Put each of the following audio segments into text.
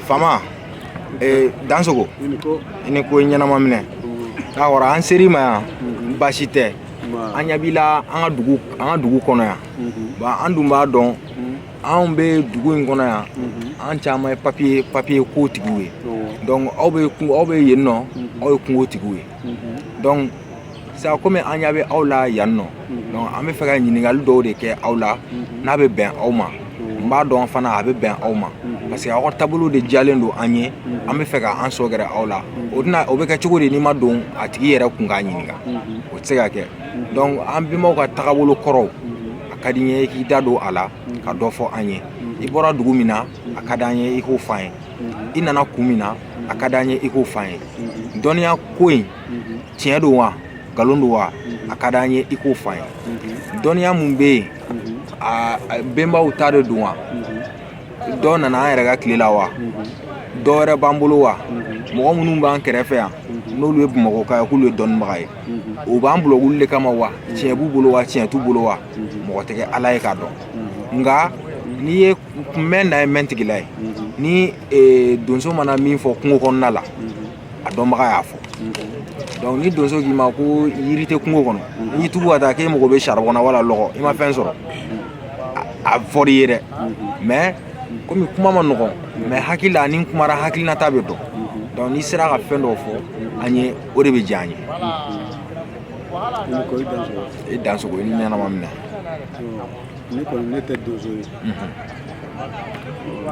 fama eh, dansogo i ni ko ɲɛnama minɛ k'a kɔrɔ an ser'i ma yan baasi tɛ an ɲɛ b'i la an ka dugu an ka dugu kɔnɔ yan ba an dun b'a dɔn anw bɛ dugu in kɔnɔ yan an caman ye papiye papiye ko tigiw ye donc aw bɛ aw bɛ yen nɔ aw ye kungo tigiw ye donc sa kɔmi an ɲa bɛ aw la yan nɔ donc an bɛ fɛ ka ɲininkali dɔw de kɛ aw la n'a bɛ bɛn aw ma n b'a dɔn fana a bɛ bɛn aw ma parce que aw ka taabolo de diyalen don an ye an bɛ fɛ ka an sɔgɛrɛ aw la o tɛna o bɛ kɛ cogo di n'i ma don a tigi yɛrɛ kun k'a ɲininka o tɛ se ka kɛ donc an bɛnbaw ka tagabolo kɔrɔw a ka di n ye i k'i da don a la ka dɔ fɔ an ye i bɔra dugu min na a ka d'an ye i k'o f'an ye i nana kun min na a ka d'an ye i k'o f'an ye dɔnniya ko in tiɲɛ don wa nkalon don wa a ka di an ye i k'o fɔ an ye dɔnniya min bɛ yen a bɛnbaw ta de don wa dɔ nana an yɛrɛ ka tile la wa dɔ wɛrɛ b'an bolo wa mɔgɔ minnu b'an kɛrɛfɛ yan n'olu ye bamakɔkaw ye k'olu ye dɔnnibaga ye o b'an bolo wuli de kama wa tiɲɛ b'u bolo wa tiɲɛ t'u bolo wa mɔgɔ tɛ kɛ ala ye k'a dɔn nka n'i ye mɛn na ye mɛntigila ye ni donso mana min fɔ kungo kɔnɔna la a dɔnbaga y'a fɔ donc ni donso k'i ma ko yiri tɛ kungo kɔnɔ n'i tugu ka taa k'e mago bɛ saribɔn na wala lɔgɔ i ma fɛn sɔrɔ a fɔr'i ye dɛ mais komi kuma man nɔgɔn mais hakili la n'i kumara hakilinata bɛ dɔn donc n'i sera ka fɛn dɔw fɔ an ye o de bɛ diya an ye i dansogo i ni ɲɛnama minɛ ne kɔni ne tɛ donso ye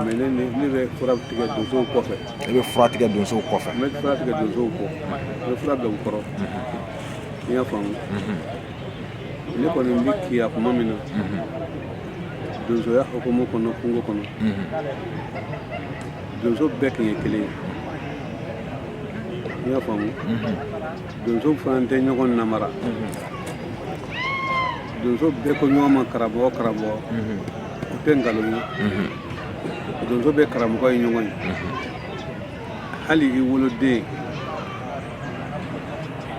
mais ne bɛ fura tigɛ donsow kɔfɛ i bɛ fura tigɛ donsow kɔfɛ n bɛ fura tigɛ donsow kɔ n bɛ fura bila u kɔrɔ i y'a faamu ne kɔni bɛ kiya kuma min na donsoya hukumu kɔnɔ kungo kɔnɔ donso bɛɛ tun ye kelen ye i y'a faamu donso fana tɛ ɲɔgɔn namara donso bɛɛ ko ɲɔgɔn ma karamɔgɔ karamɔgɔ o tɛ nkalon ye donso bɛɛ karamɔgɔ ye ɲɔgɔn ye hali i woloden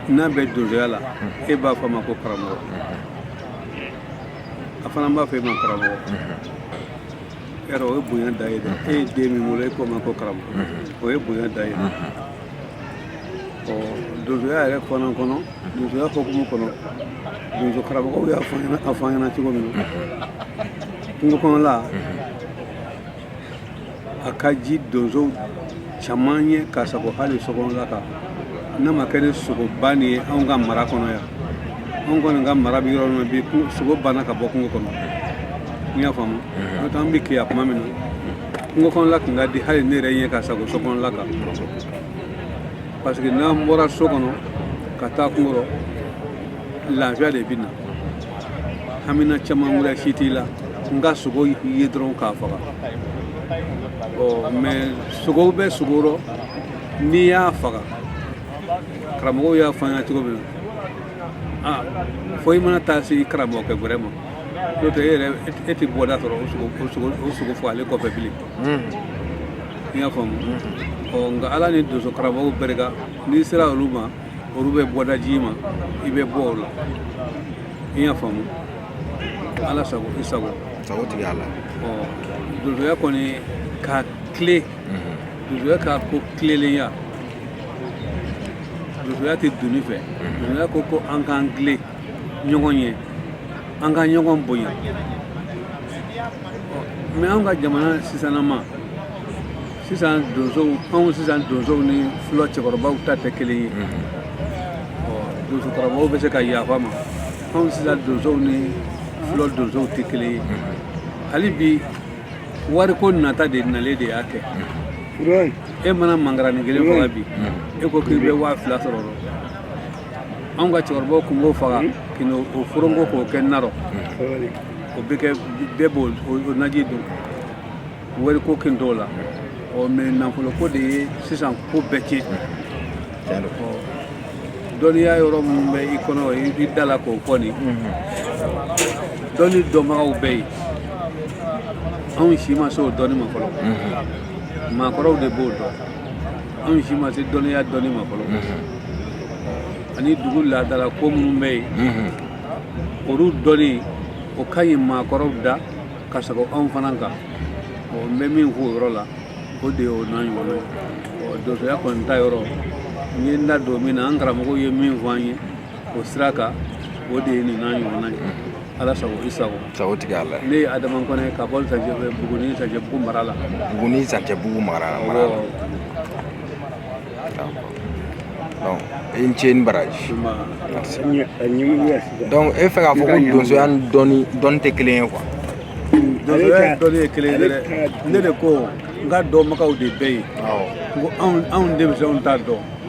n'a bɛ donsoya la e b'a fɔ a ma ko karamɔgɔ a fana b'a fɔ e ma karamɔgɔ yɛrɛ o ye bonya da ye dɛ e ye den min wolo e k'o ma ko karamɔgɔ o ye bonya da ye dɛ ɔ donsoya yɛrɛ fana kɔnɔ donsoya hukumu kɔnɔ donso karamɔgɔw y'a fɔ an ɲɛna cogo min na kungo kɔnɔla a ka ji donso caman ye ka sago hali sokɔnɔla kan n'a ma kɛ ni sogo bannen ye anw ka mara kɔnɔ yan anw kɔni ka mara bɛ yɔrɔ min na bi sogo banna ka bɔ kungo kɔnɔ n y'a faamu n'o tɛ an bɛ kiya kuma min na kungo kɔnɔla tun ka di hali ne yɛrɛ ye ka sago sokɔnɔla kan parce que n'an bɔra so kɔnɔ ka taa kungo rɔ lafiya de bɛ n na hamina caman wɛrɛ si t'i la n ka sogo ye dɔrɔn k'a faga ɔ mais sogo bɛ sogo rɔ n'i y'a faga karamɔgɔw y'a fɔ an ɲɛna cogo min na a fo i mana taa se i karamɔgɔkɛ wɛrɛ ma n'o tɛ e yɛrɛ e tɛ bɔda sɔrɔ o sogo fagalen kɔfɛ bilen i y'a faamu ɔ nka ala ni donso karamɔgɔw barika n'i sera olu ma olu bɛ bɔda ji i ma i bɛ bɔ o la i y'a faamu ala sago i sago sago tigi ala ɔ donsoya kɔni ka tile donsoya ka ko tilelenya donsoya tɛ doni fɛ donsoya ko ko an k'an tile ɲɔgɔn ye an ka ɲɔgɔn bonya mais anw ka jamana sisanama sisan donsow anw sisan donsow ni fɔlɔ cɛkɔrɔbaw ta tɛ kelen ye donso karamɔgɔw bɛ se ka yafa n ma anw sisan donsow ni fɔlɔ donsow tɛ kelen ye hali bi wariko nata de nalen de y'a kɛ e mana mangarani kelen faga bi e ko k'i bɛ waa fila sɔrɔ anw ka cɛkɔrɔbaw tun b'o faga kino o foronko k'o kɛ na rɔ o bɛ kɛ bɛɛ b'o o naji dun wariko tun t'o la ɔ mais nafoloko de ye sisan ko bɛɛ tiɲɛ ɔ dɔnniya yɔrɔ minnu bɛ i kɔnɔ i i da la k'o fɔ nin dɔnni dɔnbagaw bɛ yen anw si ma se o dɔnni ma fɔlɔ maakɔrɔw de b'o dɔn anw si ma se dɔnniya dɔnni ma fɔlɔ ani dugu laadala ko minnu bɛ yen olu dɔnni o ka ɲi maakɔrɔw da ka sago anw fana kan ɔ n bɛ min fɔ o yɔrɔ la o de ye o n'a ɲɔgɔnna ye ɔ donsoya kɔni ta yɔrɔ n ye n da don min na an karamɔgɔw ye min fɔ an ye o sira kan o de ye nin n'a ɲɔgɔnna ye ala sago i sago sago tigi ala ne ye adama kɔnɛ ka bɔ buguni zancɛbugu mara la buguni zancɛbugu mara la donc i ni ce ni baraji donc e fɛ k'a fɔ ko donsoya ni dɔnni tɛ kelen ye quoi donsoya dɔnni ye kelen ye dɛ ne de ko nka dɔnbagaw de bɛ yen n ko anw denmisɛnw t'a dɔn